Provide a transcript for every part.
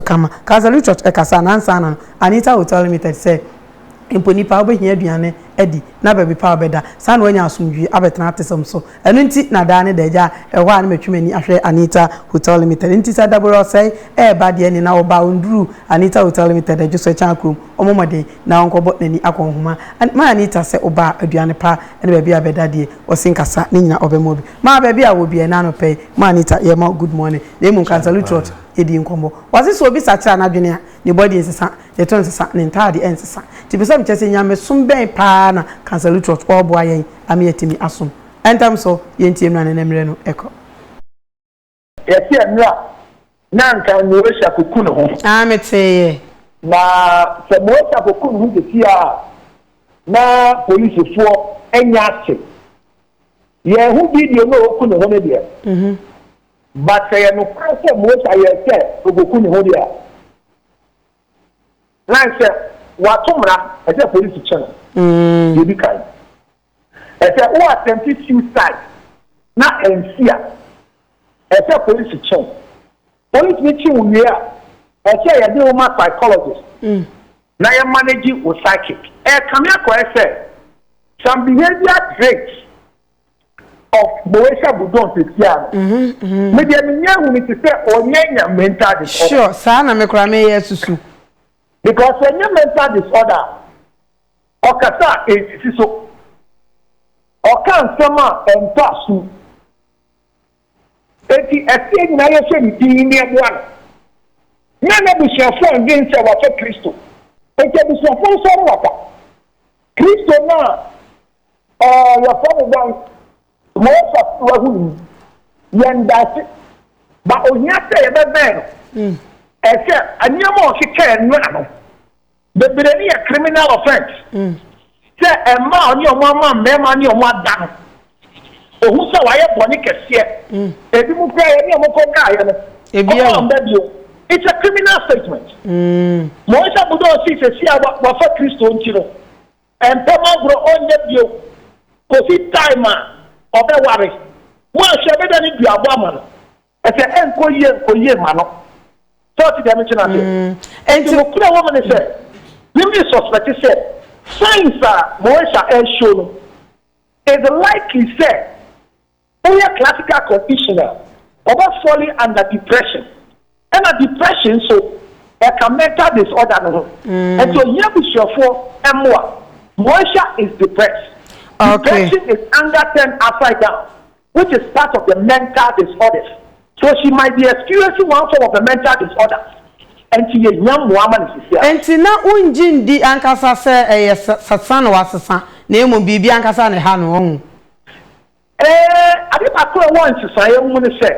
kama. Calvary Church ɛkasa a na ansa no Anita Hotel Limited sɛ mpo nnipa a wobɛhia aduane adi na baabi pa a wɔbɛda saa na wɔanya asomdwoe abɛtena atesɛm so. Ɛno nti na daa ne da agya ɛhɔ a na matwi m'ani ahwɛ Anita Hotel Limited. Enti sɛ Dabore ɔsɛe ɛreba deɛ ɛne na ɔba a ɔnduru Anita Hotel Limited adwo so ɛkyɛn akurom ɔmmɔ mmɔden na ɔnkɔbɔ n'ani akɔ nhoma ma Anita sɛ ɔba a aduane pa ne baabi a bɛda deɛ ɔse nkasa ne nyina ɔbɛma obi ma baabi a ɔwɔ biara. Ɛnna anɔpa yi ma Anita yɛma wo good morning na mmom Calvary Church di nkɔmmɔ. Ɔse sɛ obi sakyera n'adwene a, ne body nsesa, ne to nsesa, ne ntaade nsesa. Nti mepɛ sɛ mekyerɛ sɛ nyamesom bɛn paa na Cancer Lutrot ɔɔboa yɛn ama yɛatumi asom. Ɛntɛm so, yɛntie mmra no na mmerɛ no kɔ. Yɛte ɛmmerɛ a na anka Moesha koku ne ho. Aah me tee yɛ. Na sɛ Moesha koku ne ho sesie a na policefoɔ anya ate. Yɛn ho video no a oku ne ho no deɛ. But sɛ yɛ nokware sɛ Mosa yɛɛ sɛ obeku ne ho de a, na ɛsɛ wato mmara, ɛsɛ polisi kye no, deɛ edi kan. Ɛsɛ wo attempti suicide na ansi a, ɛsɛ polisi kye wo. Polisi no kye wo wie a, ɛsɛ yɛde wo ma psychologist na yɛ manage wo psychic. Ɛrekame akɔyɛ sɛ some behavior traits of Moesha Budon sesia no. Mm-hmm. Me deɛ menyɛ hu ne te sɛ ɔnyɛ nya mental disorder. Sure, saa na me kora meyɛ susu. Because ɔnyɛ mental disorder ɔkasa a ɛnsisi so. Ɔka nsɛm a ɛntɔ asom. Enti ɛseɛ nyinaa yɛhyɛ ne din ne ɛboa no. Na n'abusuafoɔ ndwen sɛ wafa Kristo. Enti abusuafoɔ nsɔre waba. Kristo no a Ɛɛ, yɛfrɛ no dɛn? Close up no wahu no mu. Yɛn daase. Ba ohia sɛ yɛbɛbɛn no. Hmm. Ɛsɛ nneɛma a ɔkyekyɛɛ no ano. Bebree no yɛ criminal offense. Hmm. Sɛ ɛmma a ɔne ɔmo ama mmarima ne ɔmo ada no, ohu sɛ wayɛ bɔne kɛseɛ. Hmm. Ebi mu koraa yɛne ɔmo kɔ kaeɛ no. Ebi a. Ɔmo amba bio. It's a criminal statement. Mɔnhyɛ bodo ɔsi sɛ si a wafa Kristo nti no. Mpem agorɔ ɔnyɛ bio kɔsi time a ɔbɛware. Moanhwɛ bɛda ne dua abɔ ama no. Ɛsɛ ɛnkɔ yie nkɔ yie mma no. Sɛ wote deɛ mete no aseɛ? Enti nokorɛ a ɛwɔ mu ne sɛ, me me suspect sɛ signs a Moesha ɛreshow no is likely sɛ Woyɛ classical condition a, ɔbɛ falle under depression. Ɛna depression nso, ɛka mental disorder no ho. Nti ohia abusuafoɔ mmoa. Moesha is depressed. Depression is anger turned upside down which is part of the mental disorders. So she might be experiencing one form of the mental disorder. Nti yɛhia mmoa ama no sisi a. Nti na wongye ndi ankasa sɛ ɛyɛ sesa na wasesa na mmom biribi ankasa na ɛha no, wahu. Ee, ade baako a ɛwɔ nsesaeɛ ho ne sɛ,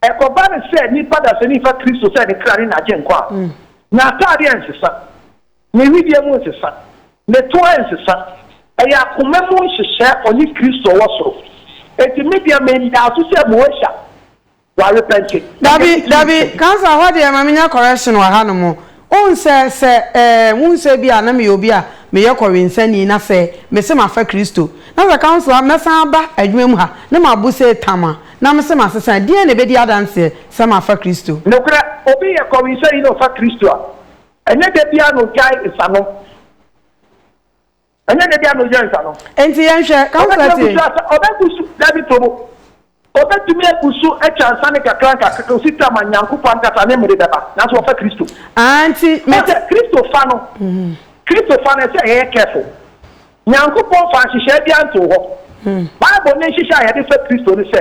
ɛkɔba no sɛ nipa dasani fa Kristo sɛ ne kra ne n'Agyenkwa a, n'ataadeɛ nsesa, ne wedeɛ mu nsesa, ne to nsesa. Ɛyɛ akoma mu nhyehyɛɛ ɔne Kristo wɔ soro. Enti me deɛ, mendaa so sɛ Moesha. W'arepɛnte na Dabi, yɛde dabi, Jesus adi. Councillor hɔ deɛ ma menya correction wɔ ha nom. Wohu sɛ, sɛ eh, wohu sɛ ebia na meyɛ obi a meyɛ kɔwensani na sɛ mese mafa Kristo, na sɛ Councillor mɛsan aba adwuma mu ha na mabu sei tam a, na mese masesa a, deɛn na ɛbɛdi adanseɛ sɛ mafa Kristo? Nokorɛ, obi yɛ kɔwensani na ɔfa Kristo a, ɛnyɛ da biara na ɔgyae nsanom. Ɛnyɛ ne dea na ɔyɛ nsa no. Enti yɛnhwɛ, councillor tie. Ɔbɛtumi agu so asa, ɔbɛgu so, Dabi to bo. Ɔbɛtumi agu so atwa nsa no kakra nkakra kɔsi tam a Nyankopɔn ankasa ne mmere bɛba, nanso wafa Kristo. Aah, nti me. Wohu sɛ, Kristo fa no, Kristo fa no, ɛsɛ sɛ yɛyɛ careful. Nyankopɔn mfaa nhyehyɛe biara ntoo hɔ. Bible ne nhyehyɛe a yɛde fa Kristo ne sɛ.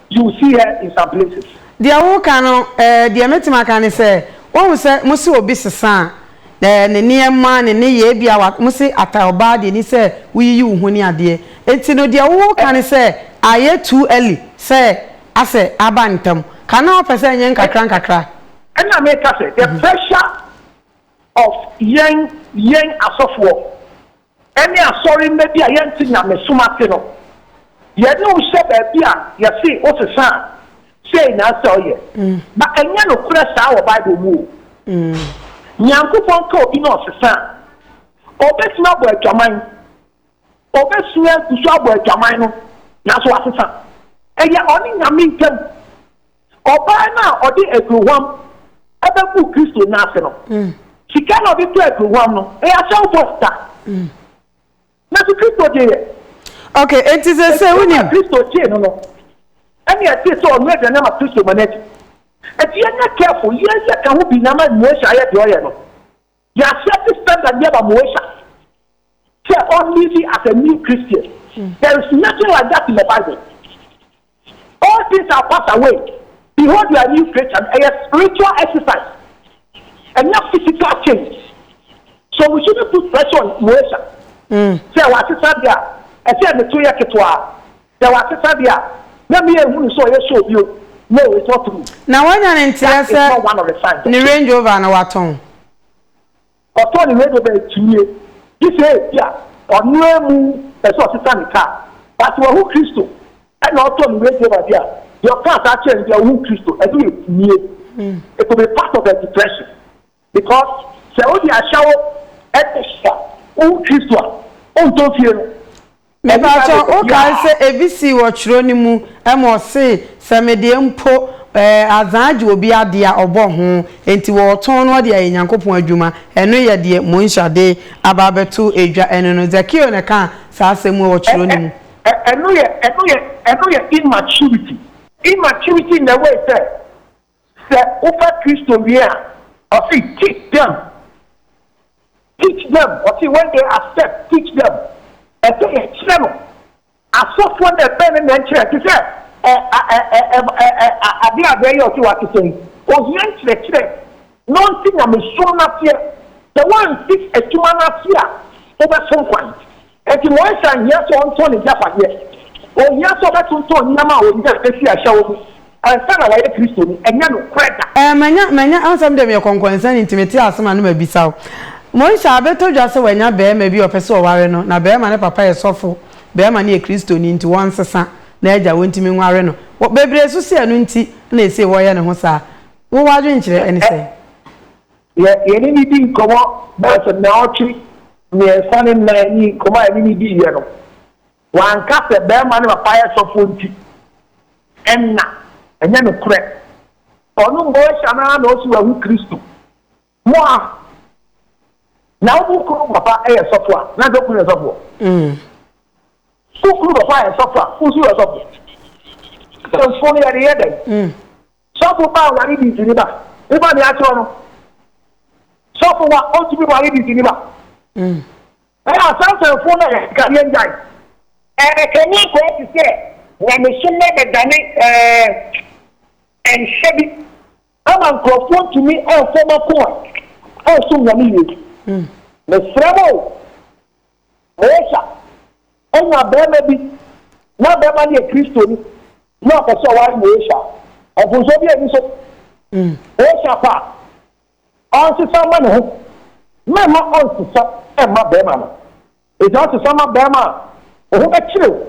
you will see her in some places. Deɛ woka no eh, deɛ mɛtumi aka ne sɛ, woahu sɛ mose obi sesa a, eh, ne nneɛma, ne nneyɛɛ bi a mose ata ɔbaa deɛ ni sɛ woyiyi wo ho ne adeɛ. Enti no deɛ woka ne sɛ ayɛ too early sɛ asɛ aba ntam. Ka na wopɛ sɛ ɛnyɛ nkakra nkakra. Ɛna meka sɛ the pressure of yɛn yɛn asɔfoɔ ne asɔremma bi a yɛnte nyamesom ase no, yɛne wo hyɛ baabi a yɛse wo sesa a, sei na ɛsɛ ɔyɛ. Na ɛnyɛ nokorɛ saa wɔ Bible mu o. Nyankopɔn ka obi na ɔsesa a, ɔbɛtumi abɔ adwaman, ɔbɛsua agu so abɔ adwaman no, nanso wasesa. Ɛyɛ ɔne Nyame ntam. Ɔbaa no a ɔde aduhuam bɛgu Kristo nan ase no, sika na ɔde tɔ aduhuam no, ɛyɛ ahyɛwfo sika. Nanso Kristo gye yɛ. Okay, enti sɛ sɛ wonim. Ɛdiyɛ a Kristo gyee no no, ɛne ɛte sɛ ɔnoa aduane ama Kristo ma no adi. Enti yɛnyɛ careful, yɛnyɛ ka ho bi na ama Moish ayɛ deɛ ɔyɛ no. Yɛahyɛ ne standard yɛ ma Moesha sɛ ɔnlive as a new Christian. There is nothing like that in the Bible. All things are passed away, behold you are a new creature no ɛyɛ spiritual exercise, ɛnyɛ physical change. So we shouldn't put pressure on Moesha sɛ wasesa de a ɛsɛ ne to yɛ ketewaa. Sɛ wasesa deɛ a, na me anhu no sɛ ɔyɛ show bio, no it's not true. Na wanya ne nteɛ sɛ ne Range Rover no watɔn? Ɔtɔn ne Range Rover akyirie, gye sɛ ebi a ɔno amu pɛ sɛ ɔsesa ne car. But sɛ wahu Kristo ɛna ɔtɔn ne Range Rover deɛ a, deɛ ɔkaa saa kyerɛɛ no deɛ ɔhuu Kristo, ɛno yɛ akyinnye. It could be part of a depression. Because sɛ wode ahyawo ɛtɔ so a wohu Kristo a, wontɔ fie no. Me pa kyɛ wo kae sɛ ebi sii wɔ twerɛ no mu ɛma ɔsee sɛ me deɛ mpo ɛɛ azan agye obi adeɛ a ɔbɔ ho enti wɔ ɔtɔn no ɔde ayɛ Nyankopɔn adwuma ɛno yɛ deɛ Monhyia de aba abɛto dwa ɛno no Zakeo na ɛkaa saa asɛm mu wɔ twerɛ no mu. Ɛ ɛ ɛno yɛ ɛno yɛ ɛno yɛ immaturity immaturity in the way sɛ Sɛ wofa Kristo wie a, ɔse teach them, teach them, ɔse when they accept, teach them, ɛsɛ yɛkyerɛ no, asɔfoɔ na ɛbɛn no na ɛnkyerɛ, te sɛ adeɛ a bɛɛyɛ ɔse wate sɛn, ohia nkyerɛkyerɛ na ɔnte nyamesom no aseɛ, sɛ woansi adwuma no ase a wobɛsom kwan. Enti Moises anhia sɛ ɔntɔn n'agyapadeɛ. Ɔhia sɛ ɔbɛtontɔn nneɛma a ɔnya bɛsi ahyɛwo mu ansa na wayɛ Kristoni. Ɛnyɛ nokorɛ da. Eh, manya, manya, ɛwɔ sɛ me deɛ meyɛ kɔnkɔnsani nti mete ase ma no mabisa wo. Moises abɛtɔ dwa sɛ wanya barima bi a ɔpɛ sɛ ɔware no, na barima no papa yɛ sɔfo, barima no yɛ Kristoni nti wɔnsesa n'agya, wɔntumi nware no. Wɔ, bebree susu ɛno nti na ɛsei wɔyɛ ne ho saa. Wo w'adwenkyerɛ ɛne sɛn? Yɛ yɛne no di nkɔmmɔ bɛyɛ sɛ naawɔtwe mmiɛnsa ne nnan ni, nkɔmmɔ a yɛne no diiɛ no, wanka sɛ barima ne papa yɛ sɔfoɔ nti ɛnna ɛnyɛ nokorɛ. Ɔno Moesha no ara na ɔsi wahu Kristo. Mo a na wo kunu papa yɛ sɔfoɔ a, na anka wo kunu yɛ sɔfoɔ? Wo kunu papa yɛ sɔfoɔ a, wo nso yɛ sɔfoɔ. Asɛmfoɔ no yɛde yɛ dɛn? Sɔfo ba a ɔyare dii sini ba. Woba nea akyerɛw no, sɔfo wa ontumi ware dii sini ba. Ɛna asansanfo na yɛka yɛn gyae. Ɛkame akɔyɛ te sɛ nyamesom no abɛdane nhyɛ bi ama nkurɔfoɔ ntumi mfa wɔn akoma nsom Nyame yie. Mesrɛ mo o! Mosa anya barima bi na barima no yɛ Kristoni na ɔpɛ sɛ ɔware Mosa a, mfomsoɔ biara nni so. Mosa pɛ a, ɔnsesa mma ne ho. Mɛmma ɔnsesa mma barima no. Ɛsɛ ɔsesa ma barima a, wo ho bɛkyere wo.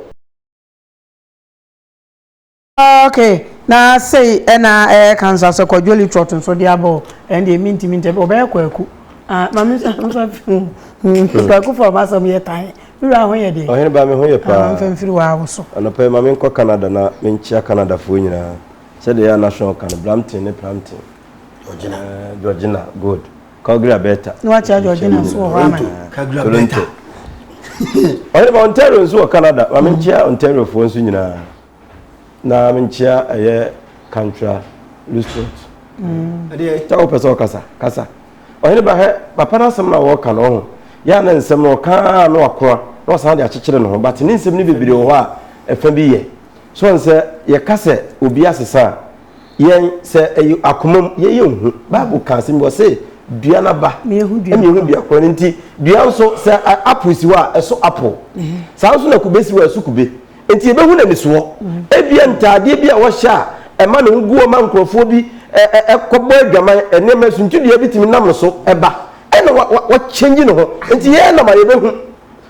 Ok na sei ɛna ɛka nsa sɛ kwadwo litrot nso de abɔ ɛn deɛ mi ntumi ntɛ ɔbɛyɛ kwaku ah maame nsa nfa fi kwaku fɔ ɔba sɔm yɛ tan mi wura ho yɛ deɛ ɔhene ba mi ho yɛ paa nfa nfiri wa awo so anɔpɛ yi maame nkɔ Canada na mi nkyia Canada foɔ nyinaa sɛdeɛ yɛ anasɔn kan Brampton ne Brampton Georgina Georgina good Calgary Alberta na wakyia Georgina nso wɔ hɔ ama Calgary Alberta ɔhene ba Ontario nso wɔ Canada maame nkyia Ontario foɔ nso nyinaa. na menkyea ɛyɛ kantra lustrot ɛdeɛ ta wopɛ sɛ ɔkasa kasa ɔhene ba hɛ papa no asɛm no a wɔka no ɔho yɛ a na nsɛm no ɔkaa na wakoa na ɔsan de akyekyere ne ho but ne nsɛm no bebree wɔ hɔ a ɛfa bi yɛ so ɔn sɛ yɛka sɛ obi asesa a yɛn sɛ ɛyɛ akomam yɛyɛ nhu bible ka asɛm bi wɔ se dua no aba ɛna ehu dua korɔ no nti dua nso sɛ apo si hɔ a ɛso apo saa nso na kube si hɔ a ɛso kube Enti yɛbɛhu n'anisoɔ. Ebia ntaadeɛ bi a wɔhyɛ a ɛma ne ho gu hɔ ma nkurɔfoɔ bi kɔbɔ adwaman, nneɛma, suntidua bi tumi nam ne so ba. Ɛna wa wa wakyɛngye ne ho. Enti yɛn na ma yɛbɛhu.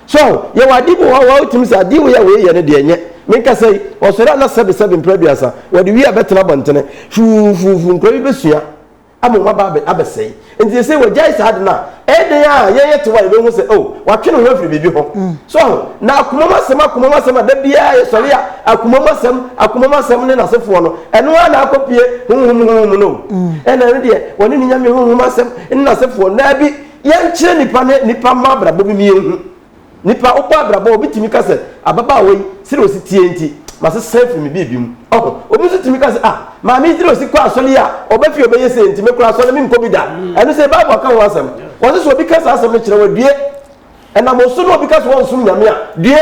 So aho, yɛwɔ adeɛ bi wɔ hɔ a wotumi sɛ adeɛ wei a wei yɛ no deɛ nyɛ. Menkasa yi, ɔsɔre a na sɛbesɛbe mprɛ aduasa, wɔde wie a bɛtena abɔntene. Fuufuufu, nkura bi bɛsua. ama wɔn aba abɛ, abɛsɛe. Nti seesei wɔagyae saa ade no a, ɛyɛ dɛn a yɛn yɛ tew a yɛbɛhu sɛ, oh, wɔatwe ne ho afiri biribi ho. So ahu? Na akomam asɛm, akomam asɛm a da biara yɛsɔre a akomam asɛm, akomam asɛm ne n'asefoɔ no, ɛno ara na akɔpue honhom, honhom mu no. Ɛna ɛno deɛ, wɔne ne nyame honhom asɛm ne n'asefoɔ. Daabi, yɛnkyerɛ nnipa ne nnipa mma abrabɔ bi ma yɛnhu. Nnipa, wobɔ abrabɔ a, obi tumi ka sɛ, Ababaawa yi, sɛnea osi teɛ nti, masesa afiri me biribi mu. Ɔho. Obi nso tumi ka sɛ, Ah, maame yi, sɛnea osi kɔ asɔre yi a, ɔba fie a, ɔbɛyɛ sei nti, me koraa, asɔre no, menkɔ bi da. Ɛno sei, Bible aka ho asɛm. Wɔse sɛ obi ka saa asɛm no kyerɛ wo a, due. Ɛnam osu na obi ka sɛ ɔnsom Nyame a, due.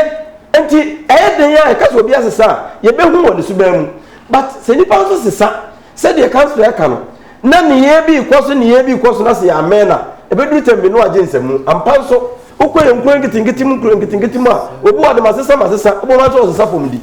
Enti, ɛyɛ dɛn ara a, yɛka sɛ obi asesa a, yebehu wɔ ne suban mu. But, sɛ nnipa nso sesa, Sɛdeɛ Kansoɛ ka no, na nneyɛɛ bi rekɔ so nneyɛɛ bi rekɔ so na sɛ yɛammɛn a, ɛbɛduru tɛm bi na wɔagye nsamu. Ampa nso, wokɔ yɛn nkuro nketenkete mu nkuro nketenkete mu a, wɔbu wo ademasesa masesa, wobɛhu ara sɛ wɔresesa fam di.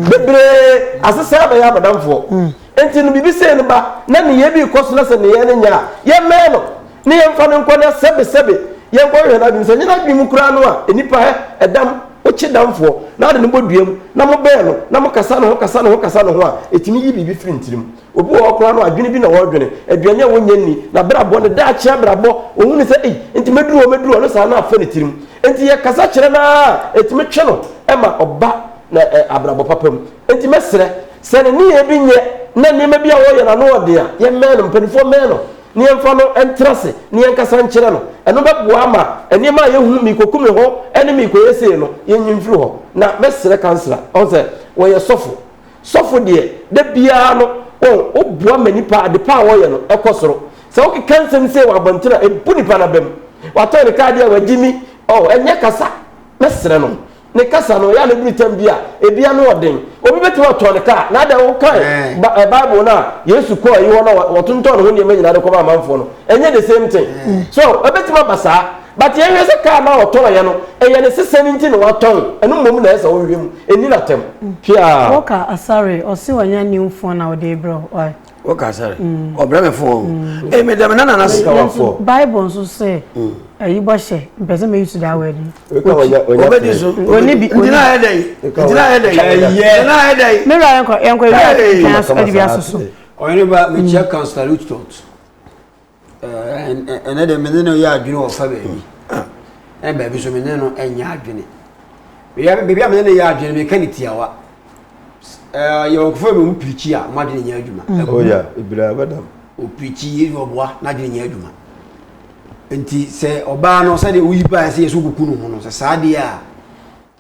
Bebree asesa abɛyɛ abɔdamfoɔ. Enti no biribi sei no ba, na nneyɛɛ bi rekɔ so na sɛ nneyɛɛ no nyɛ a, yɛmmɛn no. Ne yɛmfa no nkɔ na sɛbesɛbe yɛnkɔhwehwɛ n'adwenem. Sɛ ɛnyɛ n'adwenem mu koraa no a, nnipa hɛ, ɛdam, wokye damfoɔ, na wode no bɔ dua mu, na mobɛn no, na mokasa ne ho, kasa ne ho, kasa ne ho a, ɛtumi yi biribi firi ne tirim. Obi wɔ hɔ koraa no, adwene bi na ɔredwene, aduane a ɔnnya nni, n'abrabɔ, ne daakye abrabɔ, ɔhu no sɛ, ei, enti mɛduru hɔ, mɛduru hɔ, ne saa no afa ne tirim. Enti yɛkasa kyerɛ no ara a, ɛtumi twe no ma ɔba na ɛ, abrabɔ papa mu. Enti mɛsrɛ, sɛ ne nneyɛɛ bi nyɛ, na nneɛma bi a ɔreyɛ no ano yɛ den a, yɛmmɛn no, mpanimfoɔ mmɛn no. na yɛmfa no ntra ase na yɛnkasa nkyerɛ no. Ɛno bɛboa ama nneɛma a yɛhu, merekɔku me ho ne merekɔyɛ sei no, yɛnyi mfiri hɔ. Na mɛsrɛ kansela, ɔhu sɛ wɔyɛ sɔfo. Sɔfo deɛ, da biara no, ɔhu, woboa ma nnipa, adepa a wɔyɛ no, ɛkɔ soro. Sɛ wokeka nsɛm sei wɔ abɔnten a, ɛbu nnipa no abam. Watɔn ne kaa deɛ a, wagye mi. Oh, ɛnyɛ kasa. Mɛsrɛ no. Ne kasa no, ɛyɛ a ne bere tam bi a ebi ano yɛ den. Obi betumi atɔn ne kaa, na adɛn wokae eh. ba eh, Bible no a Yesu kɔɔ ayi hɔ na wɔtontɔn ne ho nneɛma nyinaa de kɔma amanfoɔ no. Ɛnyɛ the same thing. Eh. So, ɛbɛtumi aba saa. But yɛhwɛ sɛ kaa no a ɔtɔnɔeɛ no, ɛyɛ ne sesɛ no nti na watɔn. Ɛno mmom na ɛyɛ sɛ wohwehwɛ mu. Ɛnni no atɛm. Hwɛ a. Wɔka asare, ɔse wanya new phone na ɔde brɛ wo. o ka sɛ mm. ɔbrɛ me fon o mm. ee meda me nana na sika wa fo bible nso sɛ ɛyi mm. bɔ hyɛ mpɛ sɛ mɛyi so daa wɛdi ɔbɛdi so ɔni bi ntina ayɛ dɛ ntina ayɛ dɛ ntina ayɛ dɛ mewura yɛnkɔ yɛnkɔ ewia ntina so ɛdi bi asoso ɔyɛnba mekyia councillor lutot ɛnɛ deɛ mene no yɛ adwene wɔ fa baabi ɛna baabi so mene no ɛnyɛ adwene baabi a mene no yɛ adwene meka ne tiawa yɛwɔkɔfo bi mu pirikyi a mo adwene nyɛ adwuma ɔpirikyi yɛ ɔboa na adwene nyɛ adwuma nti sɛ ɔbaa no sɛdeɛ woyi baa sɛ yɛsɛ wokuku no ho no sɛ saa deɛ a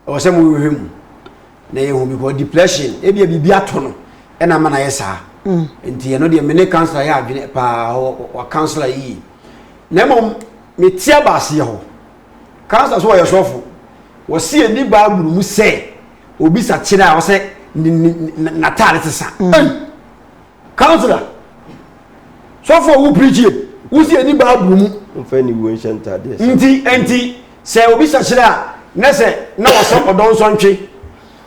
Ɛwɔ sɛ mohwehwɛ mu na yɛhu because depression ebia biribi ato no ɛna ama no ayɛ saa mm. nti ɛno deɛ mene councilor yɛ adwene paa wɔ councilor yie na mmom mete abaaseɛ hɔ councilor so wɔyɛ sɔfo wɔsi ani baabulu mu sɛ obi sakyera a wɔsɛ n'ataade te sa mm. Councillor, sɔfoɔ wo preachie, wo si ani bible mu. Momfa aniwuo nhyɛ ntaadeɛ sɛ. Nti ɛnti sɛ obi hyɛ hyerɛ a na sɛ na ɔsɛ ɔdɔ nsɔ ntwe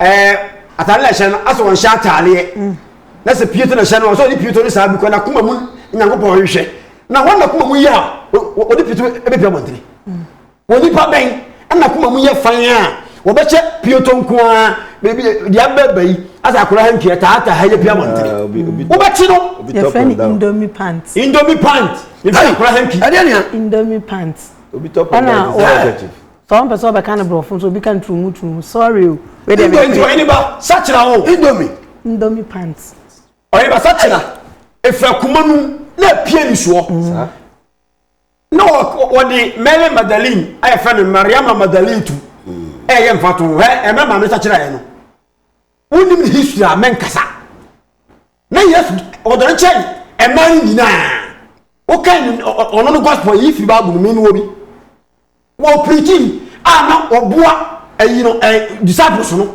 ɛɛ ataade na ɛhyɛ no asɛ ɔnhyɛ ataadeɛ na sɛ pieto na ɛhyɛ no ɔsɛ ɔde pieto ne saa bi kɔ na kuma mu nyankopɔn ɔhwehwɛ na wɔn na kuma mu yɛ a ɔde pieto ɛbɛpia bɔntene. Onipa bɛn na koma mu yɛ fann a wɔbɛhyɛ pioto nko ara baabi deɛ abɛɛba yi asɛ akora ha ntua taata ha yɛ pia abɔntene ah, wobɛkye no yɛfrɛ no indomie pant indomie pant yɛfrɛ no akora ha ntwi ɛdeɛ nea indomie pant ɛna ɔwɔ sɛ wɔn pɛ sɛ ɔbɛka no borɔfo nso obi ka no turumu turumu sorry o. indomie nti ɔyɛ ne ba sakyera o. indomie. indomie pant. ɔyɛ ba sakyera efura kuma nu na epie nisuo. na wɔde mary magdalene a yɛfrɛ no mariama magdalene tu ɛyɛ mfato hɛ ɛmɛ maame sakyerɛ no wonim ne history a mɛnkasa na yesu ɔdɔ no kyɛn ɛma no nyinaa woka ɔno no gospel yi firi bible no me no wɔ bi wɔpirikyi a na wɔboa ayi no disciples no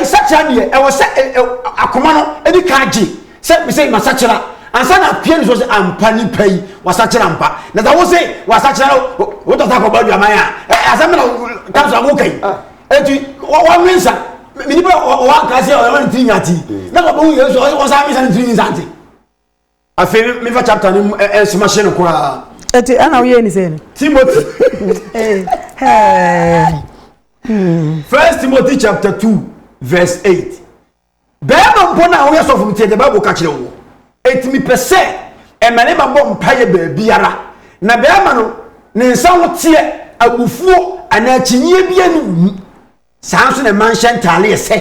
Nsakyera deɛ, ɛwɔ sɛ akoma no di kan gye sɛ mesɛ masakyera ansa na apue ne so sɛ ampa nipa yi wasakyera ampa. Na sɛ wose wasakyera no, wotɔ sɛ akɔbɔ adwaman a, asɛm na tam so woka yi. Enti wɔnwe nsa. Me nipa ɔwɔ ankra sɛ ɔyɛ ne tiri nyanti. Na sɛ ɔbɛhu Yesu a, ɔsan nwe nsa ne tiri nyanti. afei no mefa chapter no mu ɛ- ɛ- nsoma hye no koraa Eti ɛna woyɛ ni sɛ no. timothy Ee, ɛɛ, first timothy chapter 2 verse 8 bɛrima mpo no a woyɛ sɔfo no tiɛ deɛ bible ka kyerɛ wo ɛti mepɛ sɛ mmarima bɔ mpaeɛ baabiara na bɛrima no ne nsa ho teɛ abufuo anaa kyinyeɛ bi ani wo mu Saa nso na mma nhyɛ ntaadeɛ sɛ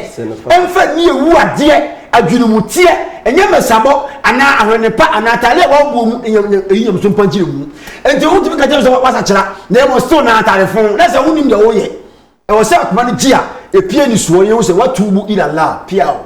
ɛmfa nni awu adeɛ, adwenemuteɛ, ɛnyɛ mmɛsabɔ anaa ahwenepa anaa ataadeɛ a wɔaboɔ mu ɛnyɛ ɛyi nyamso mpa nkyerɛ mu. Enti wɔn tumi ka kyerɛ sɛ wasakyera na ɛmɔ still na ataade fon na sɛ wonim deɛ wɔyɛ. Ɛwɔ sɛ akoma no gye a ɛpie ni soɔ yɛhu sɛ watuubu ila Allah pia o.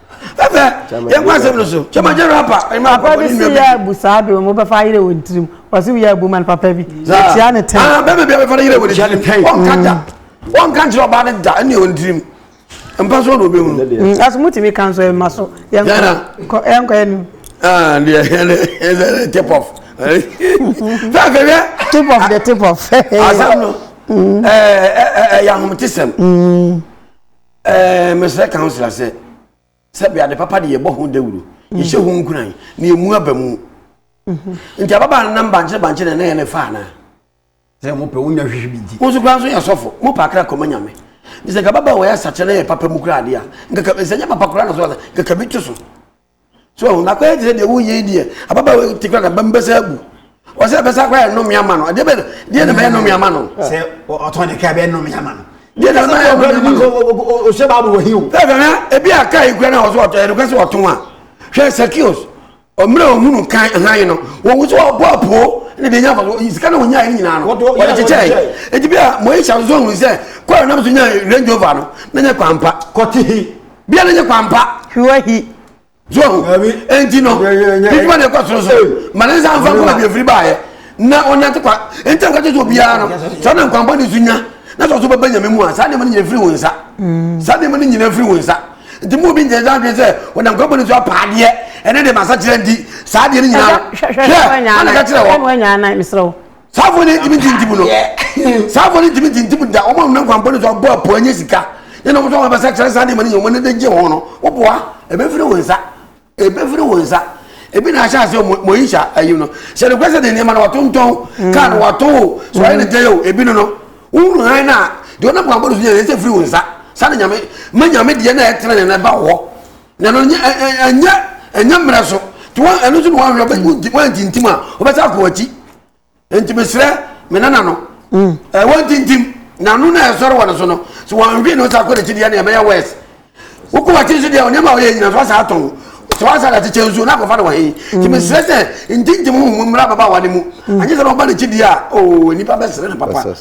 ɛfɛ yɛn kɔ asɛm no so kyɛma gyɛ rapa ɛma akɔ papa bi si yɛ abu saa de wɔn bɛfa ayere wɔn tirim wɔsi yɛ abu man papa bi tia ne tɛn aa bɛɛ bɛbi abɛfa ne yere wɔn tirim wɔn ka da wɔn ka nkyerɛ ɔbaa ne da ɛne wɔn tirim mpa so na obi mu. aso mu tìmi kan so ɛma so yɛn kɔ yɛn kɔ yɛn nu. aa deɛ yɛn yɛn tip off fɛn fɛn yɛ. tip off de tip off. asam no ɛɛ ɛɛ ɛyɛ ahomete sɛm. Ɛɛ, mesrɛ councillor sɛ sɛbi ade papa de yɛbɔ ho dawuro mm. yɛhyɛ ho nkuran na yɛmu aba mu mhm. nti ababaa no nam bankyere bankyere na ɛyɛ ne fa anaa sɛ mopɛ wonya hwehwe bi nti wo nso koraa nso yɛ sɔfo mopɛ akra kɔma nyame sɛ nka baba wɔyɛ asakyɛ na yɛ papa mu koraa adeɛ a nka sɛ nyɛ papa koraa na so nkaka bi to so So ahu? Na akɔyɛ te sɛ deɛ woyɛ yi deɛ, ababaawa yi te kora ka bɛm bɛsa abu. Ɔsɛ ɛbɛsa akɔyɛ nnome ama no. Ɛdeɛ bɛ no, deɛ na bɛyɛ nnome ama no. Sɛ ɔtɔn ne kaa bɛyɛ nnome ama no. Deɛ na bɛyɛ nnome ama no. Ɔhyɛ baabu wɔ hi o. Ɛfɛ na ebi a kaa yi kura na ɔsɛ ɔtɔn, ɛdokɛ sɛ ɔtɔn a. Hwɛ Sakios, ɔmmerɛ ɔhunu kan hann no, wɔwu sɛ ɔbɔ apoo ne deɛ nya faso, sika na ɔnyae no nyinaa no, ɔde kyekyɛe. Enti bi a Moisha nso hunu sɛ, kɔɛ nam so nya Range Rover no, na nyɛ kwan pa. Kɔte he? bia ne nye kwampa hwiwa hi so enti no bidwuma ne ɛkɔ soro so ma ne nsa mfa nkɔma biafiri baeɛ na ɔnante kwa enti nka kyɛ sɛ obiara no sɛ ɔne nkwampa ne so nya na sɛ ɔso bɛbɛ nyame mu a saa nneɛma no nyina firi wo nsa mm. saa nneɛma no nyina firi wo nsa nti mu obi nkyɛn sɛ adwene sɛ ɔnam nkwampa ne so apa adeɛ ɛne de masa kyerɛ nti saa adeɛ no nyina hwɛ ana ka kyerɛ wɔ saa afɔ no ntumi ntintim no saa afɔ no ntumi ntintim da wɔn a wɔn nkwampɔ no so abɔ apɔ anya sika ne na wɔn nso wɔn abɛsa kyerɛ saa nneɛma no yɛ wɔn ne de gye wɔn no wɔboa ebefiri wɔn nsa ebefiri wɔn nsa ebi na ahyɛ ase mo yi hyɛ ayi no sɛ ne kwesɛ de nneɛma no wato ntɔn kaa no wato o so ayɛ ne tɛyɛ o ebi no no wɔn nhan na deɛ wɔn nkwampɔ no so yɛ ɛsɛ firi wɔn nsa saa na nyame ma nyame deɛ na ɛtena ne na ɛba wɔ. Na no nyɛ ɛnyɛ ɛnyɛ mmerɛ so nti wɔn ɛno nso na wɔn ahwɛ wɔn wɔn ntintim a wɔbɛsa akɔ akyi nti mesrɛ me nana no mm. ɛ wɔn ntintim na no na ɛsɔre wɔn so no so wɔn ahwɛ na wɔsa akɔ n'akyi deɛ na ɛbɛyɛ wɛs wokɔ wɔn akyi nso deɛ nneɛma a wɔyɛ nyina so asa atɔn sɛ wɔn asa ate kyɛn nsuo na akɔfa no wɔn he nti mm. mesrɛ sɛ ntintim ho mu mmra ababaawa ne mu mm. anyɛ sɛ na ɔba n'akyi deɛ a oo oh, nipa bɛsrɛ ne papa.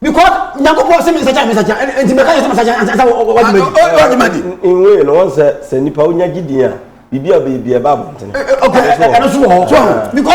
because nyankopɔn sɛ mesakya mesakya nti mɛka yɛ sɛ masakya ansa wadwumadi nwei no wɔn sɛ sɛ nipa wonya gye din a biribi a bɛyɛ bia ɛba abɔntene ɛno so wɔ hɔ because